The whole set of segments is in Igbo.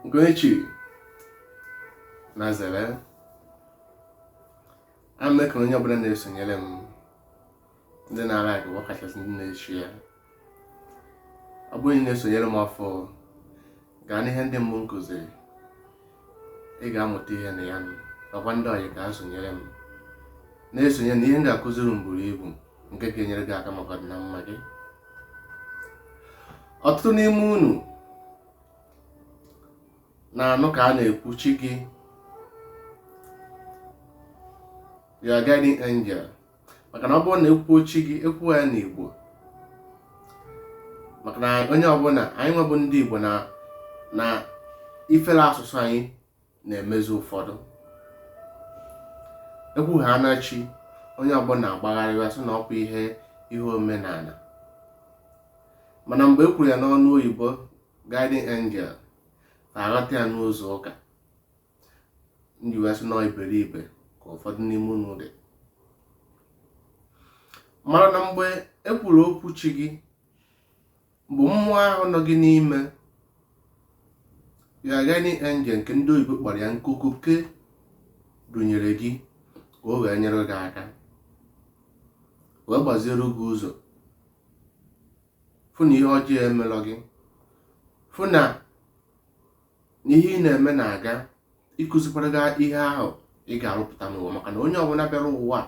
Ugochi na zere ana m ekele onye ọbụla na-esonyere m ndị na-alike ọkachasị ndị na-eshare ya ọ bụrụ na ị na-esonyere m ọfụụ gaa n'ihe ndị mbụ m kụziri ị ga-amụta ihe na ya nakwa ndị ọyị ka ha sonyere m na-esonye na ihe m ga-akụziri unu buru ibu nke ga-enyere gị aka maka ọdịna mma gị ọtụtụ n'ime unu na-anụ ka a na-ekwu chi gị your guiding angel maka na ọ bụrụ na ekwuo chi gị ekwuo ya n'igbo maka na onye ọbụla anyị nwa bụ ndị igbo na ifere asụsụ anyị na-emezi ụfọdụ ekwu ha na chi onye ọbụla agbagharịwa sị na ọkwa ihe ihe omenala mana mgbe e kwuru ya n'ọnụ oyibo guiding angel ha aghọta ya n'ụzọ ụka m ji wee sị na ọ iberibe ka ụfọdụ n'ime unu dị mara na mgbe e kwuru okwu chi gị bụ mmụọ ahụ nọ gị n'ime your guiding angel nke ndị oyibo kpọrọ ya nke okike dunyere gị ka o wee nyere gị aka wee gbaziere gị ụzọ fụ na ihe ọjọọ emelọ gị fụ na na ihe ị na-eme na-aga ịkụzikwara gị ihe ahụ ị ga-arụpụta n'ụwa maka na onye ọbụla bịara ụwa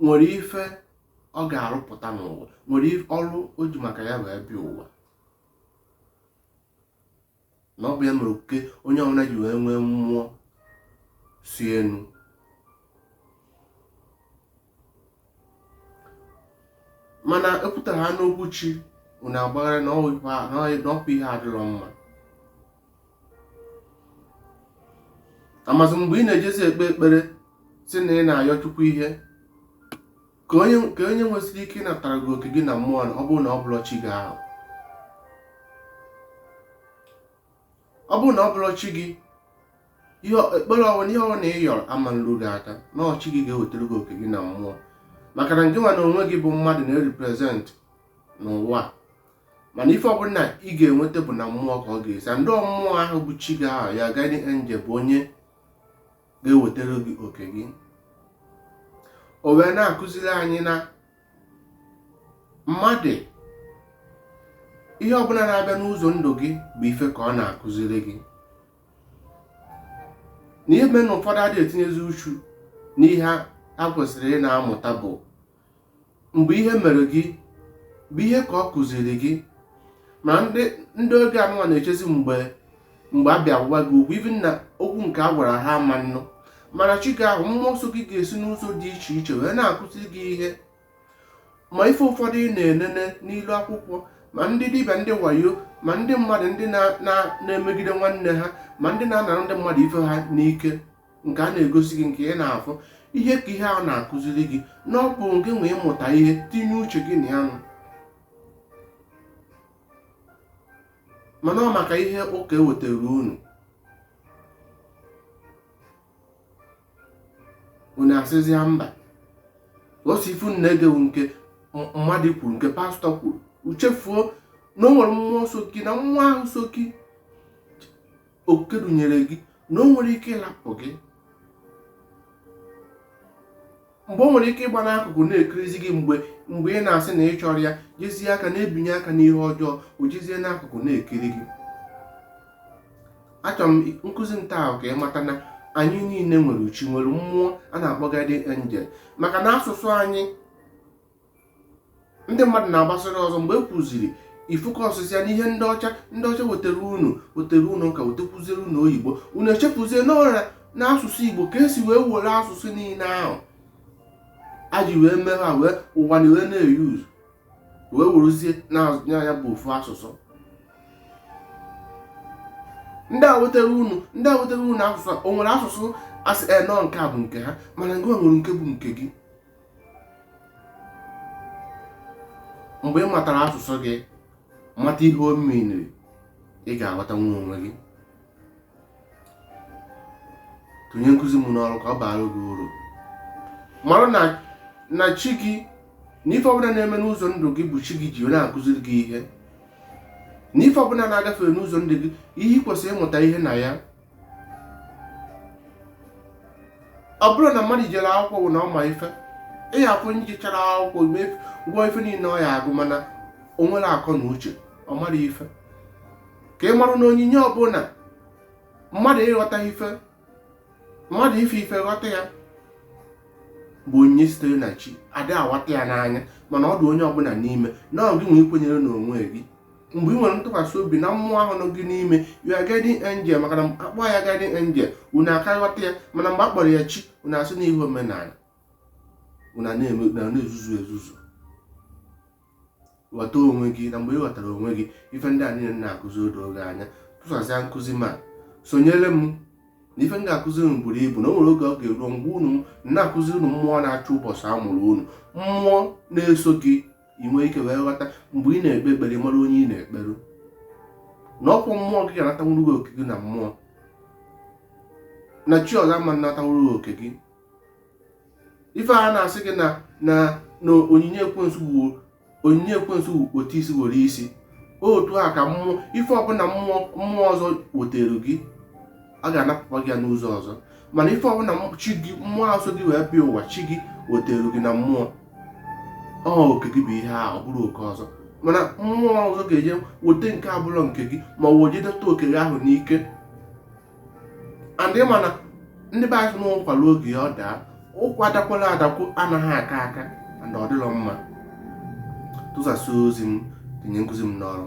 nwere ife ọ ga-arụpụta n'ụwa nwere ọrụ o ji maka ya wee bịa ụwa na ọ bụ ya mere oke onye ọbụla ji wee nwee mmụọ si enu mana ekwuta ha n'okwu chi unu agbagharịa na ọkwa ihe adịrọ mma amazị mgbe ị na-ejezi ekpe ekpere si na ị na-ayọ chukwu ihe ka onye nwesịrị ike ịnatara gị oke gị na mmụọ ọ bụrụ na ọ bụrọ chi gị ahụ ọ bụrụ na ọ bụrọ chi gị ekpere ọbụla ihe ọbụla ị yọrọ ama nru gị aka na ọ chi gị ga-ewetara gị oke gị na mmụọ maka na ngị nwa na onwe gị bụ mmadụ na-erepresent n'ụwa mana ife ọbụla ị ga-enweta bụ na mmụọ ka ọ ga-esi and mmụọ ahụ bụ chi gị ahụ your guiding angel bụ onye ga-ewetara gị oke gị o wee na-akụziri anyị na mmadụ ihe ọbụla na-abịa n'ụzọ ndụ gị bụ ife ka ọ na-akụziri gị na ihe mere na ụfọdụ adịghị etinyezi uchu n'ihe ha kwesịrị ịna-amụta bụ mgbe ihe mere gị bụ ihe ka ọ kụziri gị ma ndị ndị oge anụnwa na-echezi mgbe mgbe a bịa gwa gị okwu ibi na okwu nke a gwara ha ama nnụ mana chi gị ahụ mmụọ nsọ gị ga-esi n'ụzọ dị iche iche wee na-akụzi gị ihe ma ife ụfọdụ ị na-enene n'ilu akwụkwọ ma ndị dibịa ndị wayo ma ndị mmadụ ndị na-emegide nwanne ha ma ndị na-anara ndị mmadụ ife ha n'ike nke a na-egosi gị nke ị na-afụ ihe ka ihe a na-akụziri gị na ọ bụ gị nwe ịmụta ihe tinye uche gị na ya nụ mana ọ maka ihe ụka e wetara unu unu asịzịa mba ọ sọ ife unu na-ege wụ nke m- mmadụ kwuru nke pastọ kwuru unu echefuo na o nwere mmụọ so gị na mmụọ ahụ so gị oke dunyere gị na o nwere ike ịlapụ gị mgbe o nwere ike ịgba n'akụkụ na-ekirizi gị mgbe mgbe ị na-asị na ị chọrọ ya jezie aka na-ebinye aka n'ihe ọjọọ o jezie n'akụkụ na-ekiri gị achọrọ m nkụzi m taa wụ ka ị mata na anyị niile nwere chi nwere mmụọ a na-akpọ guardian angel maka na asụsụ anyị ndị mmadụ na-agbasara ọsọ mgbe e kwuziri ife ụka ọ sịsịa n'ihe ndị ọcha ndị ọcha wetara unu wetara unu ka wetekwuziere unu oyibo unu echefuzie n'ọrịa na asụsụ igbo ka e si wee were asụsụ niile ahụ a ji wee mee ha wee ụwa na wee na-eyuz wee werezie na ya bụ ofu asụsụ ndị a wetara unu ndị a wetara unu asụsụ o nwere asụsụ a sị na ọ nke a bụ nke ha mana gị nwere nke bụ nke gị mgbe ị matara asụsụ gị mata ihe ọ meanịrị ị ga-aghọta nwee onwe gị tinye nkụzi m n'ọrụ ka ọ baara gị uru mara na chi gị na ife ọbụla na-eme n'ụzọ ndụ gị bụ chi gị ji na-akụziri gị ihe na ife ọbụla na-agafe n'ụzọ ndụ gị ihe ị kwesịrị ịmụta ihe na ya ọ bụrọ na mmadụ jere akwụkwọ bụ na ọ ma ife ị ya afụ onye jechara akwụkwọ gụọ ife niile ọ ya agụ mana o nwerọ akọ na uche ọ marọ ife ka ị marụ na onyinye ọbụla mmadụ ịghọta ife mmadụ ife ife ghọta ya bụ onyinye sitere na chi ada ahụta ya n'anya mana ọ dị onye ọbụla n'ime na ọ gị nwe ikwenyere n'onwe gị mgbe ị nwere ntụkwasị obi na mmụọ ahụ nọ gị n'ime your guardian angel maka na a kpọọ ya guardian angel unu aka ghọta ya mana mgbe a kpọrọ ya chi unu asị na ihe omenala unu na-eme na-ezuzu ezuzu ghọta onwe gị na mgbe ị ghọtara onwe gị ife ndị a niile na-akụzi o doo gị anya tụsasịa nkụzi m a sonyere m na ife m ga-akụzi unu buru ibu na o nwere oge ọ ga-eru m gwa unu na-akụzi unu mmụọ na-achị ụbọchị a mụrụ unu mmụọ na-eso gị ị nwee ike wee ghọta mgbe ị na-ekpe ekpere mara onye ị na-ekperu na ọ bụ mmụọ gị ga-anatanwuru gị oke gị na mmụọ na chi ọzọ ama natanwuru gị oke gị ife a na-asị gị na na na onyinye ekwensu bụ onyinye ekwensu bụ wete isi were isi otu a ka mmụọ ife ọbụla mmụọ mmụọ ọzọ wetere gị a ga-anapụkwa gị ya n'ụzọ ọzọ mana ife ọbụla chi gị mmụọ ahụ so gị wee bịa ụwa chi gị wetara gị na mmụọ ọ oke gị bụ ihe a ọ bụrụ oke ọzọ mana mmụọ ọzọ ga-eje weta nke abụlọ nke gị ma ọ jedeta oke gị ahụ n'ike and mana ndị be anyị na ụkwa luo oge ọ daa ụkwa adakwala adakwu anaghị aka aka na ọ dịrọ mma tụsasịa ozi m tinye nkụzi m n'ọrụ